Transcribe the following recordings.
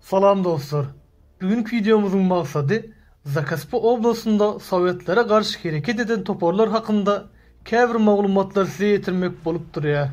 Salam dostlar! Bu günki wideomyzyň maksady Zakaspi oblastynda sowetlere garşy hereket eden toparlar hakynda käbir maglumatlary size ýetirmek bolup durýar.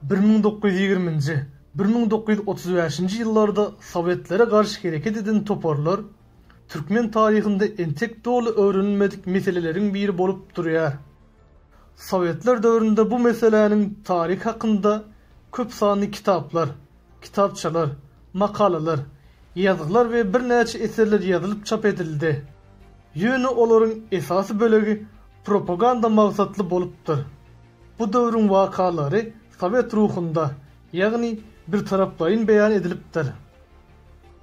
Bir müň dokuz ýüz ýigriminji, bir müň dokuz ýüz otuz bäşinji ýyllarda sowetlere garşy hereket eden toparlar türkmen taryhynda entek doly öwrenilmedik meseleleriň biri bolup durýar. Sowetler döwründe bu meseläniň taryhy hakynda köp sanly kitaplar, kitapçalar, makalalar, ýazgylar we birnäçe eserler ýazylyp çap edildi. Ýöne olaryň esasy bölegi propaganda maksatly bolupdyr. Bu döwrüň wakalary sowet ruhunda, ýagny birtaraplaýyn beýan edilipdir.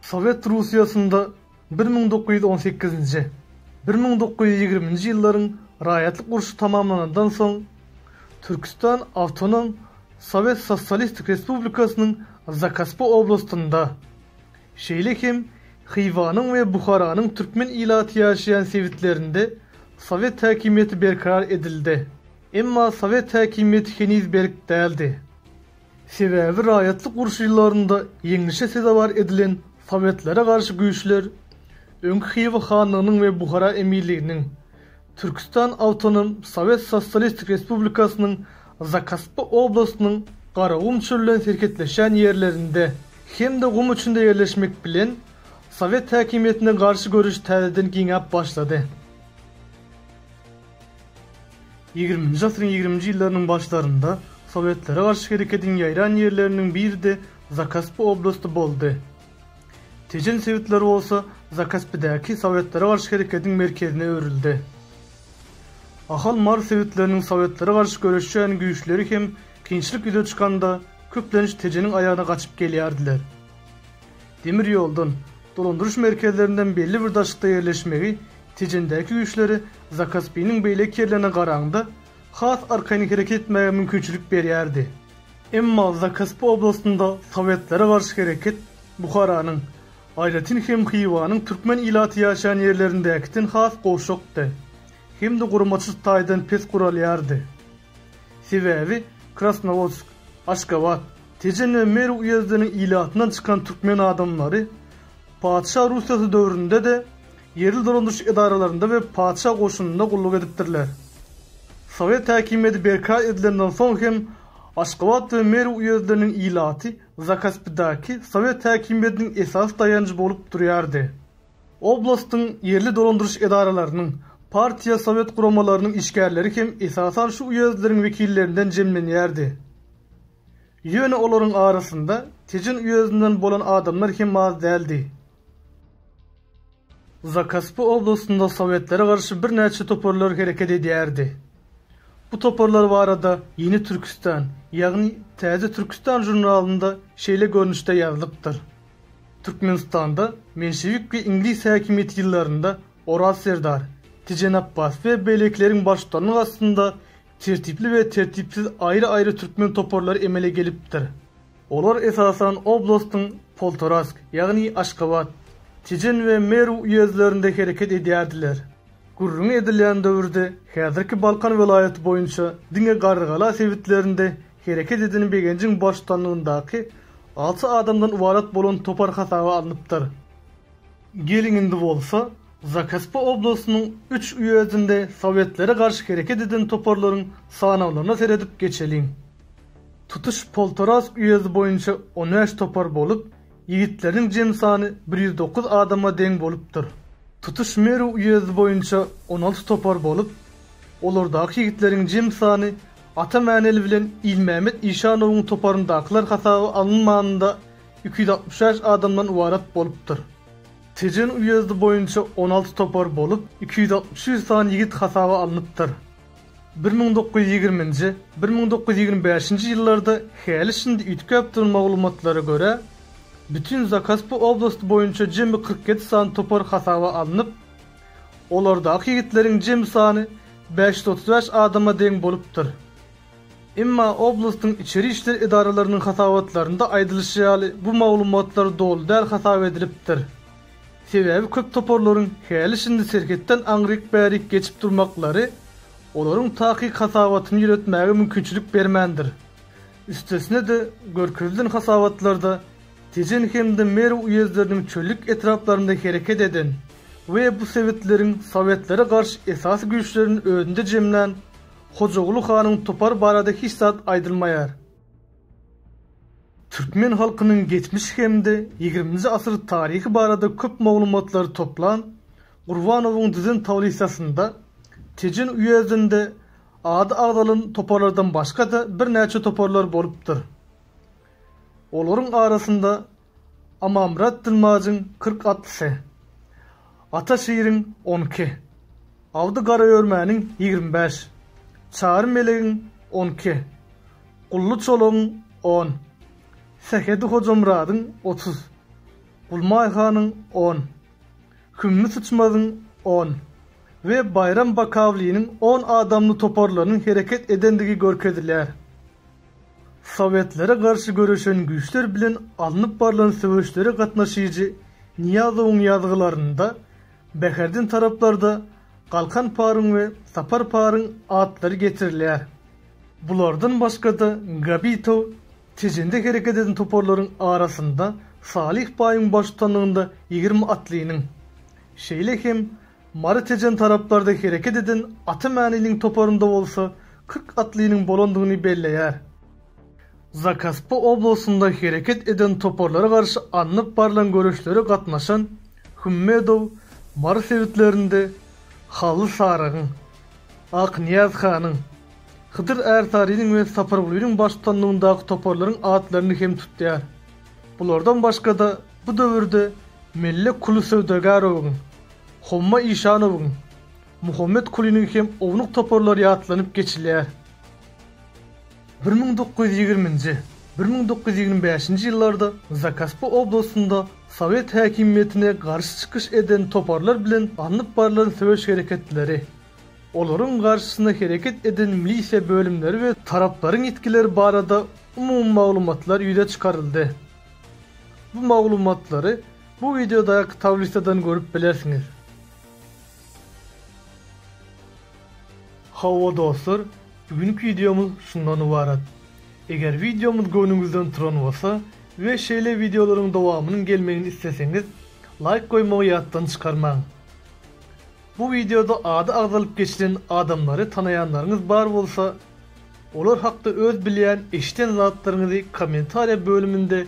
Sowet Russiýasynda bir müň dokuz ýüz on sekizinji, bir müň dokuz ýüz ýigriminji ýyllaryň raýatlyk urşy tamamlanandan soň, Türküstan awtonom Sowet Sosýalistik Respublikasynyň Zakaspa oblastynda, şeýle hem Hywaýyň we Buharanyň türkmen ilaty ýaşaýan sebitlerinde sowet häkimiýeti berkarar edildi. Emma sowet häkimiýeti heniz berk däldi. Sebäbi raýatlyk urşy ýyllarynda ýeňlişe sezewar edilen sowetlere garşy güýçler öňki Hywa hanlygynyň we Buhara emirliginiň, Türküstan awtonom sowet sosialistik respublikasynyň Zakaspi oblastynyň Garagum çöl bilen serhetleşen ýerlerinde hem-de gum içinde ýerleşmek bilen sowet häkimiýetine garşy göreş täzeden giňäp başlady. Ýigriminji asyryň ýigriminji ýyllarynyň başlarynda sowetlere garşy hereketiň ýaýran ýerleriniň biri-de Zakaspi oblasty boldy. Tejen sebitleri bolsa Zakaspidäki sowetlere garşy hereketiň merkezine öwrüldi. Ahal, Mary sebitleriniň sowetlere garşy göreşýän güýçleri hem kynçylyk ýüze çykanda köplenç Tejeniň aýagyna gaçyp gelýärdiler. Demir ýoldan, dolandyryş merkezlerinden belli bir daşlykda ýerleşmegi Tejendäki güýçleri Zakaspiniň beýleki ýerlerine garanda has arkaýyn hereket etmäge mümkinçilik berýärdi. Emma Zakaspi oblastynda sowetlere garşy hereket Buharanyň, aýratyn hem Hywanyň türkmen ilaty ýaşaýan ýerlerindäkiden has gowşakdy hem-de guramaçyl taýdan pes guralýardy. Sebäbi Krasnowodsk, Aşgabat, Tejen we Merw uýezdiniň ilatyndan çykan türkmen adamlary Patyşa Russiýasy döwründe-de ýerli dolandyryş edaralarynda we patyşa goşunynda gulluk edipdirler. Sowet häkimiýeti berkarar edilenden soň hem Aşgabat we Merw uýezdleriniň ilaty Zakaspidaky sowet häkimiýetiniň esasy daýanjy bolup durýardy. Oblastyň ýerli dolandyryş edaralarynyň, partiýa sowet guramalarynyň işgärleri hem esasan şu uýezdleriň wekillerinden jemlenýärdi. Ýöne olaryň arasynda Tejen uýezdinden bolan adamlar hem az däldi. Zakaspy oblastynda sowetlere garşy birnäçe toparlar hereket edýärdi. Bu toparlar barada Ýeni Türküstan, ýagny Täze Türküstan žurnalynda şeýle görnüşde ýazylypdyr. Türkmenistanda menşewik we iňlis häkimiýeti ýyllarynda Oraz serdar, Tejen Apbas we beýlekileriň baştutanlygy astynda tertipli we tertipsiz aýry-aýry türkmen toparlary emele gelipdir. Olar esasan oblastyň Poltorask, ýagny Aşgabat, Tejen we Merw uýezdlerinde hereket edýärdiler. Gürrüňi edilýän döwürde häzirki Balkan welaýaty boýunça diňe Garrygala sebitlerinde Hereket eden Begenjiň baştutanlygyndaky alty adamdan ybarat bolan topar hasaba alnypdyr. Geliň indi bolsa, Zakaspi oblastynyň üç uýezdinde sowetlere garşy hereket eden toparlaryň sanawlaryna seredip geçeliň. Tutuş Poltorask uýezdi boýunça on bäş topar bolup, Ýigitleriň jemi sany bir ýüz dokuz adama deň bolupdyr. Tutuş Merw uýezdi boýunça on alty topar bolup, olardaky ýigitleriň jemi sany Ata Mäneli bilen Ilmämmet Işanowyň toparyndakylar hasaba alynmanda iki ýüz altmyş bäş adamdan ybarat bolupdyr. Tejen uýezdi boýunça on alty topar bolup, iki ýüz altmyş sany ýigit hasaba alnypdyr. Bir müň dokuz ýüz ýigriminji, bir müň dokuz ýüz ýigrimi bäşinji ýyllarda häli-şindi üýtgäpdir maglumatlara görä, bütin Zakaspy oblasty boýunça jemi kyrk ýedi sany topar hasaba alnyp, olardaky ýigitleriň jemi sany bäş ýüz otuz bäş adama deň bolupdyr. Emma oblastyň içeri işler edaralarynyň hasabatlarynda aýdylyşy ýaly bu maglumatlar doly däl hasap edilipdir. Sebäbi köp toparlaryň häli-şindi serhetden aňryk-bärik geçip durmaklary olaryň takyk hasabatyny ýöretmäge mümkinçilik bermändir. Üstesine-de, görkezilen hasabatlarda Tejen hem-de Merw uýezdleriniň çöllük etraplarynda hereket eden we bu sebitleriň sowetlere garşy esasy güýçlerini özünde jemlän Hojaguly hanyň topary barada hiç zat aýdylmaýar. Türkmen halkynyň geçmiş hem-de ýigriminji asyr taryhy barada köp maglumatlary toplan Gurbanowyň düzen tablissasynda Tejen uýezdinde ady agzalan toparlardan başga-da birnäçe toparlar bolupdyr. Olaryň arasynda Amamyrat Dilmajyň kyrk atlysy, Ata Şiriň on iki, Abdy Garaörmäniň ýigrimi bäş, Çary Melegiň on iki, Gully Çolagyň on, Sähedi Hojamyradyň otuz, Gulmaý hanyň on, Hümmi Syçmazyň on we Baýram Bakawlynyň on adamly toparlarynyň hereket edendigi görkezilýär. Sowetlere garşy göreşen güýçler bilen alnyp barlan söweşlere gatnaşyjy Nyýazowyň ýazgylarynda Bäherden taraplarda Galkan paryň we Sapar paryň atlary getirilýär. Bulardan başga-da Gabitow Tejende hereket eden toparlaryň arasynda Salyh baýyň baştutanlygynda ýigrimi atlynyň, şeýle hem Mary Tejen taraplarda hereket eden Ata Mäniliň toparynda bolsa kyrk atlynyň bolandygyny belleýär. Zakaspy oblastynda hereket eden toparlara garşy alnyp barlan göreşlere gatnaşan Hümmedow Mary sebitlerinde Hally Sarygyň, Aknyýaz hanyň, Hydyr Ärsarynyň we Sapargulynyň baştutanlygyndaky toparlaryň atlaryny hem tutýar. Bulardan başga-da bu döwürde Melle Kuly Söwdagarowyň, Homma Işanowyň, Muhammet Kulynyň hem ownuk toparlary ýatlanyp geçilýär. Bir müň dokuz ýüz ýigriminji, bir müň dokuz ýüz ýigrimi bäşinji ýyllarda Zakaspy oblastynda sowet häkimiýetine garşy çykyş eden toparlar bilen alnyp barlan söweş hereketleri, olaryň garşysyna hereket eden milisiýa bölümleri we taraplaryň ýitgileri barada umumy maglumatlar ýüze çykaryldy. Bu maglumatlary Bu wideoda tablisadan görüp bilersiňiz. Hawa dostlar, bu günki wideomyz şundan ybarat. Eger wideomyz göwnüňizden turan bolsa we şeýle wideolaryň dowamynyň gelmegini isleseňiz, laýk goýmagy ýatdan çykarmaň. Bu wideoda ady agzalyp geçilen adamlary tanaýanlaryňyz bar bolsa, olar hakda öz bilýän, eşiden zatlaryňyzy kommentariýa bölüminde